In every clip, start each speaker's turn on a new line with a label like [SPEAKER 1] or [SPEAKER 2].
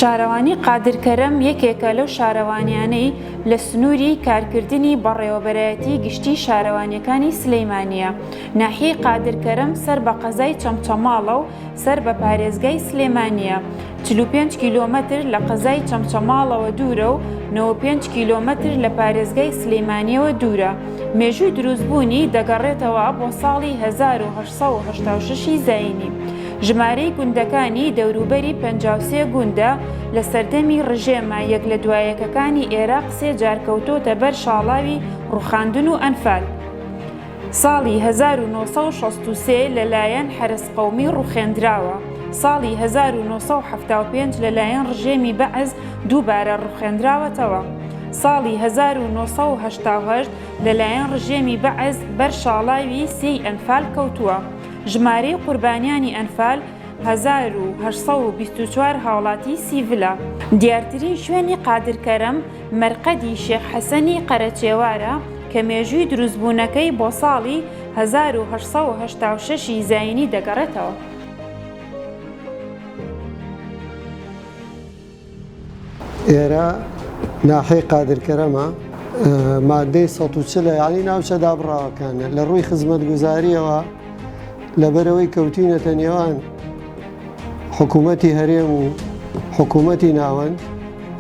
[SPEAKER 1] شارەوانی قادر کەرەم یەکێکە لەو شارەوانیانەی لە سنووری کارکردنی بەڕێوەبەرایەتی گشتی شارەوانیەکانی سلەیمانە ناحیەی قادر کەرەم سەر بە قەزای چەمچەماڵە و سەر بە پارێزگای سلێمانە چل و پێنج کیلۆمەتر لە قەزای چەمچەماڵەوە دوورە و نەوە و پێنج کیلۆمەتر لە پارێزگای سلێمانییەوە دوورە، مێژووی دروستبوونی دەگەڕێتەوە بۆ ساڵی هەزار و هەشت سەد و هەشتا و شەش ی زایینی. ژمارەی گوندەکانی دەوروبەری پەنجا و سێ گوندە، لە سەردەمی ڕژێمە یەک لە دوا یەکەکانی ئێراق سێ جار کەوتۆتە بەر شاڵاوی ڕووخاندن و ئەنفال. ساڵی هەزار و نۆ سەد و شەست و سێ لەلایەن حەرەس قەومی ڕوخێندراوە، ساڵی هەزار و نۆ سەد و حەفتا و پێنج لەلایەن ڕژێمی بەعس دووبارە ڕوخێندراوەتەوە، ساڵی هەزار و نۆ سەد و هەشتا و هەشت لەلایەن ڕژێمی بەعس بەر شاڵاوی سێی ئەنفال کەوتووە، ژمارەی قوربانیانی ئەنفال هەزار و هەشت سەد و بیست و چوار هاوڵاتی سیڤلە. دیارترین شوێنی قادر کەرەم مەرقەدی شێخ حەسەنی قەرەچێوارە کە مێژووی دروستبوونەکەی بۆ ساڵی هەزار و هەشت سەد و هەشتا و شەش ی زایینی دەگەڕێتەوە.
[SPEAKER 2] ئێرە ناحیەی قادرکەرەمە. مادەی سەد و چل یانەی ناوچە دابڕاوەکانە. لە ڕووی خزمەتگوزارییەوە لەبەرئەوەی کەوتوینەتە نێوان حکوومەتی هەرێم و حکوومەتی ناوەند،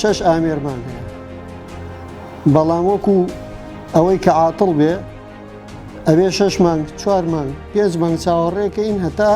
[SPEAKER 2] شەش ئامێرمان هەیە بەڵام وەکو ئەوەی کە عاتڵ بێ ئەوێ شەش مانگ چوار مانگ پێنج مانگ چاوەڕێکەین هەتا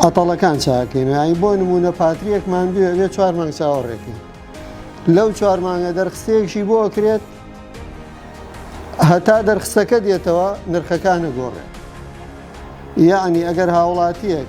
[SPEAKER 2] ئەتەڵەکان چاکەین ئای بۆ نمونە پاتریەکمان بێ ئەوێ چوار مانگ چاوەڕێکەین لەو چوار مانگە دەرخستێکشی بۆ کرێت هەتا دەرخستەکە دێتەوە نرخەکانە گۆڕێت یعنی ئەگەر هاوڵاتیەک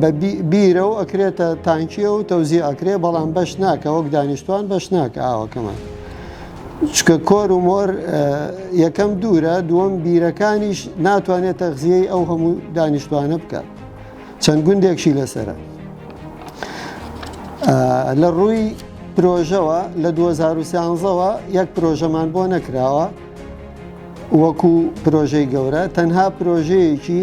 [SPEAKER 2] بە بیرە و ئەکرێتە تانکیە و تەوزی ئەکرێ بەڵام بەش ناکە وەک دانیشتوان بەش ناکە ئاوەکەمان چکە کۆر و مۆر یەکەم دوورە دووەم بیرەکانیش ناتوانێت تەغزیەی ئەو هەموو دانیشتوانە بکات چەند گوندێکشی لەسرە لە ڕووی پرۆژەوە لە 2013ەوە یەک پرۆژەمان بۆ نەکراوە وەکو پرۆژەی گەورە تەنها پرۆژەیەکی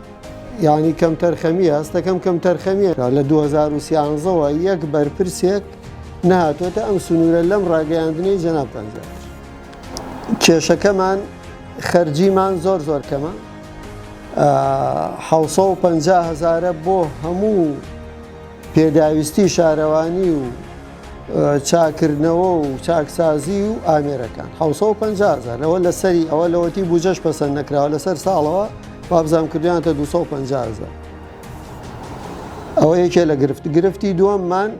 [SPEAKER 2] یانی کەمتەرخەمیە هەستەکەم کەمتەرخەمیە لە 2013 وە یەک بەرپرسێک نهاتۆتە ئەم سنوورە لەم ڕاگەیاندنەی جەنابتان زیاد کێشەکەمان خەرجیمان زۆر زۆر کەمە هزارە بۆ هەموو پێداویستی شارەوانی و چاکردنەوە و چاکسازی و ئامێرەکان هزار لەوە لەسەری ئەوە لەوەتی بجەش پەسەند نەکراوە لەسەر ساڵەوە وابزانم کردویانەتە دوو سەد و پەنجا هەزار ئەوە یەکێ لە گرفت گرفتی دووەممان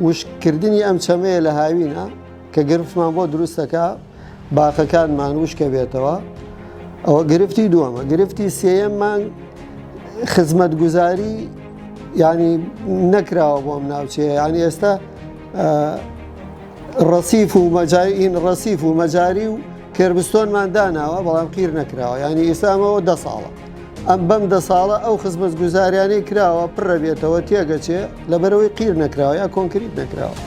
[SPEAKER 2] وشکردنی ئەم چەمەیە لە هاوینە کە گرفتمان بۆ دروستەکە باخەکانمان وشکە بێتەوە ئەوە گرفتی دووەمە گرفتی سێەممان خزمەت گوزاری ینی نەکراوە بۆم ناوچەیە ینی ئێستا ڕسیف و مەجای ئین ڕسیف و مەجاری و کێربستۆنمان داناوە بەڵام قیر نەکراوە یانی ئیستا ئەمەوە دە ساڵە ئەم بەم دە ساڵە ئەو خزمەت گوزاریانەی کراوە پڕە بێتەوە تێگەچێ لەبەرەوەی قیر نەکراوە یا کۆنکریت نەکراوە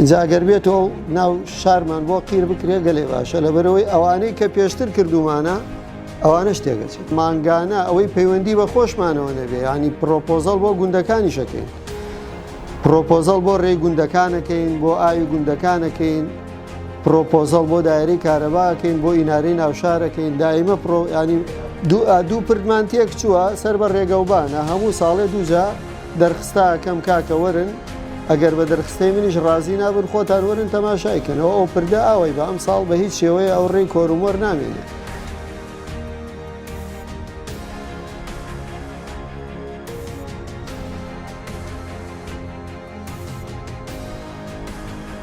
[SPEAKER 2] جاگەر بێتەوە ناو شارمان بۆ قیر بکرێ گەلێ باشە لەبەرەوەی ئەوانەی کە پێشتر کردومانە ئەوانە شتێگەچێت مانگانە ئەوەی پەیوەندی بە خۆشمانەوە نەبێ ینی پرۆپۆزەڵ بۆ گوندەکانی شەکەین پرۆپۆزەڵ بۆ ڕێی گوندەکانەکەین بۆ ئاوی گوندەکانەکەین پرۆپۆزەڵ بۆ دایرەی کارەبا ئەکەین بۆ ئینارەی ناوشار ئەکەین دایمە پرۆ ینی دوو ئا دوو پردمان تێک چووە سەر بە ڕێگەوبانە هەموو ساڵێ دووجا دەرخستا ئەکەم کاکە وەرن ئەگەر بە دەرخستەی منیش ڕازی نابن خۆتان وەرن تەماشای کەنەوە ئەو پردە ئاوەی بە ئەم ساڵ بە هیچ شێوەیە ئەو ڕێی کۆرومۆر نامێنێت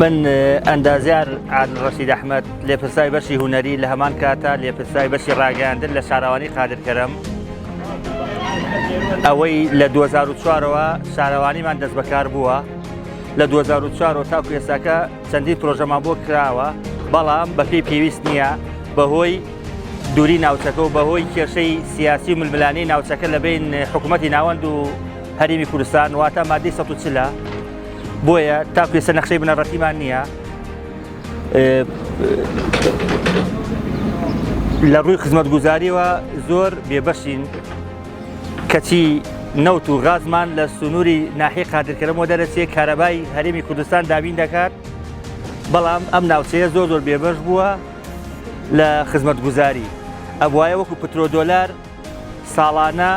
[SPEAKER 3] من ئەندازیار عادل ڕەشید ئەحمەد لێپرسای بەشی هوەری لە هەمان کاتە لێپرسای بەشی ڕاگەیاندن لە شارەوانی قادرکەرم ئەوەی لە 2004ەوە شارەوانیمان دەست بەکار بووە لە 2004 تا کوێساکە چەندی پرۆژەمان بۆ کراوە بەڵام بەپی پێویست نییە بەهۆی دووری ناوچەکە و بەهۆی کێشەی سیاسی و ململانی ناوچەکە لە بین حکوومەتتی ناوەند و هەرمی کوردستان واتە مادی ١ چلە بۆیە تاکو ێسە نەخشەی بنەڕەتیمان نییە لە ڕووی خزمەت گوزاریەوە زۆر بێبەشین کەچی نەوت و غازمان لە سنووری ناحی قادرکەرەوە دەرەچێ کارەبای هەرێمی کوردستان دابین دەکات بەڵام ئەم ناوچەیە زۆر زۆر بێبەش بووە لە خزمەت گوزاری ئەبواە وەکو پترۆدۆلار ساڵانە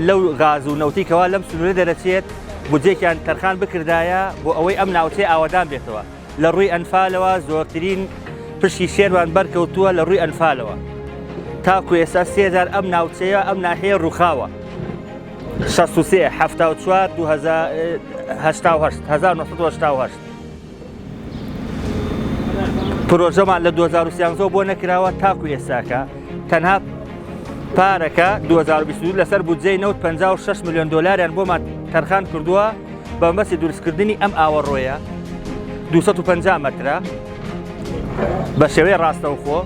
[SPEAKER 3] لەو غاز و نەوتەی کەوا لەم سنوورە دەرەچێت بودجەیەکیان تەرخان بکردایە بۆ ئەوەی ئەم ناوچەی ئاوەدان بێتەوە لە ڕووی ئەنفالەوە زۆرترین پشی شێرمان بەرکەوتووە لە ڕووی ئەنفالەوە تاکو ئێستا سێجار ئەم ناوچەیە ئەم ناحەیە ڕووخاوە 16 1970 پرۆژەمان لە 2013 بۆ نەکراوە تاکو ئێستاکە تەنها پارەکە 2022 لەسەر بودجەی نەوت 56 میلیۆن دلاریان بۆمان تەرخان کردووە بە مەسی دروستکردنی ئەم ئاوەڕۆیە 250 مترە بە شێوەیە ڕاستەوخۆ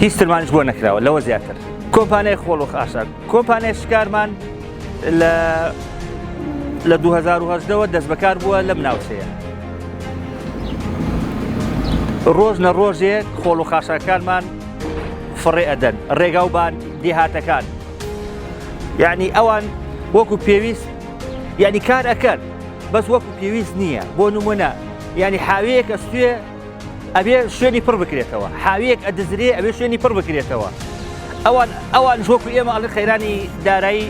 [SPEAKER 3] هیچ ترمانش بۆ نەکراوە لەوە زیاتر کۆمپانیای خۆڵۆخ ئاشا کۆمپانیای شکارمان لە لە 2010 وە دەست بەکار بووە لەم ناوچەیە ڕۆژ نە ڕۆژێک خۆڵ و خاشاکانمان فڕێ ئەدەن ڕێگا و بان دێهاتەکان یعنی ئەوان وەکو پێویست یعنی کار ئەکەن بەس وەکو پێویست نییە بۆ نمونە ینی حاوەیەکە سوێ ئەبێ شوێنی پڕ بکرێتەوە حاویەک ئەدزرێ ئەبێ شوێنی پڕ بکرێتەوە ئەوان ئەوان ژۆکو ئێمە ئەڵی قەیرانی دارایی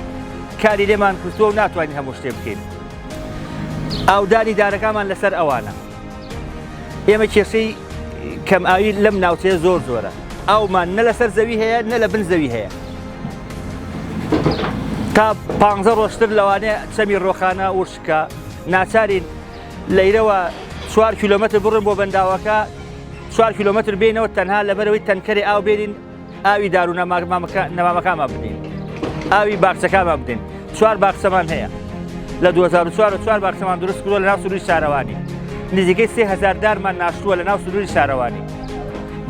[SPEAKER 3] کاری لێمان کردووە و ناتوانین هەموو شتێ بکەین ئاودانی دارەکانمان لەسەر ئەوانە ئێمە کێشەی کەم ئاوی لەم ناوچەیە زۆر زۆرە ئەومان نە لەسەر زەوی هەیە نە لە بن زەوی هەیە تا پ ڕۆشتر لەوانەیە چەمی ڕۆخانە وشکە ناچارین لەیرەوە چوار کیلۆمەتر بڕۆین بۆ بەنداوەکە چوار کیلۆمەتر بینەوە تەنها لەبەرەوەی تەنکەری ئاو بێنین ئاوی دارو نەمامەکانمان بدەین ئاوی باخچەکانمان بدەین چوار باخچەمان هەیە لە 2004 چوار باخچەمان دروست کردووە لە ناو سروی شارەوانی نزیکەی سێ هزار دارمان ناشتووە لە ناو سروری شارەوانی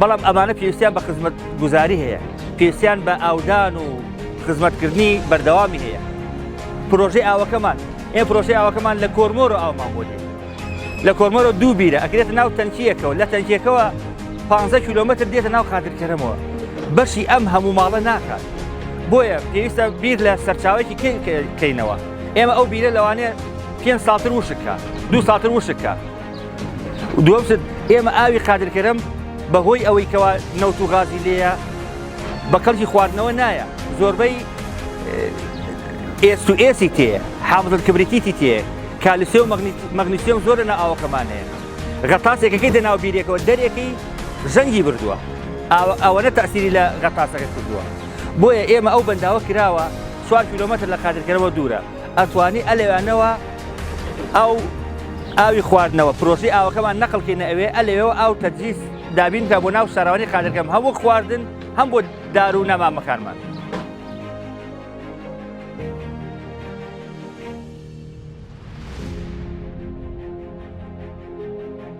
[SPEAKER 3] بەڵام ئەمانە پێویستیان بە خزمەت گوزاری هەیە پێویستیان بە ئاودان و خزمەتکردنی بەردەوامی هەیە پرۆژەی ئاوەکەمان ئێ پرۆسەی ئاوەکەمان لە کۆرمۆرۆ ئاومان بۆ دێ لە کۆرمۆرۆ دوو بیرە ئەکرێتە ناو تەنکیەکەەوە لە تەنکیەکەەوە 15 کیلومتر دێتە ناو قادرکەرەمەوە بەشی ئەم هەموو ماڵە ناکات بۆیە پێویستە بیر لە سەرچاوێکی کەینەوە ئێمە ئەو بیرە لەوانەیە پێ ساتر وشکە دوو ساتر وشکە دووەمتر ئێمە ئاوی قادرکەرم بەهۆی ئەوەی کەوا نەوت و غازی لێە بە قەرجی خواردنەوە نایە زۆربەی ئێست و ئێسی تێ حامزن کبریتیتی تێ کالیسێ و مەغنیسیۆم زۆر لە ئاوەکەمان هەیە غەتاسێکەکەی دە ناو بیرێکەوە دەرێکی زەنگی بردووە ئەوەنە تاسیری لە غەتاسەکە کردووە بۆیە ئێمە ئەو بەنداوە کراوە سوار کیلومتر لە قادرکەرەوە دوورە ئەتوانی ئە لەوێنەوە ئەو ئاوی خواردنەوە پرۆسی ئاوەکەمان نەقل کەینە ئەوێ ئە لەوێەوە ئاو تەجیز دابین کە بۆ ناو شارەوانی قادرگەم هەم وەک خواردن هەم بۆ دار و نەمامەکانمان.